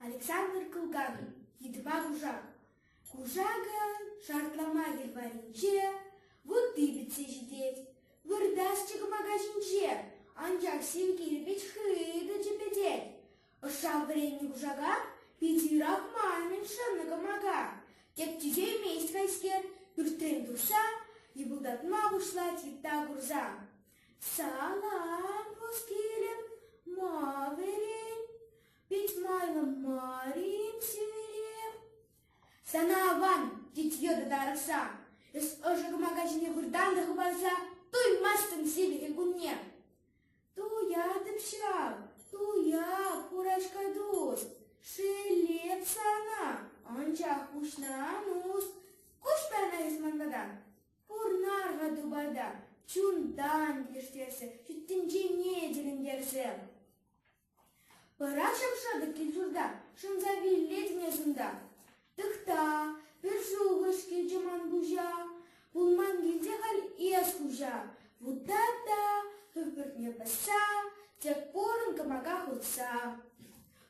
Александр Кылганов йытӑпа куршак. Куршакӑн шартлама йӑхваринче вутти пӗтсе ҫитет. Выртасчӗ кӑмака ҫинче, анчах синкерӗ пек хытӑ чӗпӗтет. Ӑшшан вӗреннӗ кушака питӗ юрах ман-мӗн шӑннӑ кӑмака. Тӗпчеймест хайскер, пӳртрен тухса, йӑпӑлтатма пуҫлать йытта курса. Салам хускирӗм, ма вӗрен, пит майлӑ марим сӳрем. Сана аван, тет йытӑ тарӑхса, эс ӑшӑ кӑмака ҫине выртан та хӑпарса, туймастӑн сивӗхӗн кунне. Туятӑп ҫав, туя, курашка тус. Шеллеп сана, анчах куҫна ан ус. Кушта ӑна эс манпата, пурнар-ха тупата. Чунтан килӗштерсе, ҫут тӗнчене тӗлӗнтерсе. Вара шӑп-шӑтӑк кил-ҫурта шӑнса виллетӗн эс унта. Тӑхта, пӗр шухӑш килчӗ ман куҫа, пулман килсе халь эс хуҫа. Вутта та, хӗпӗртме пӑсса, тек порӑн кӑмака хутса.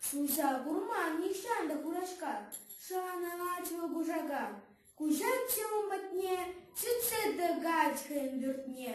Хуҫа курман нихҫан та хураҫка, шанаҫҫӗ кушака. Куҫатчӗ ун патне, сӳтсе тӑкать хӑйӗн пӳртне.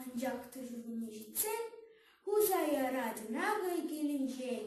Анчах тӗшӗлне ҫитсен хуса ярать Нави килӗнчен.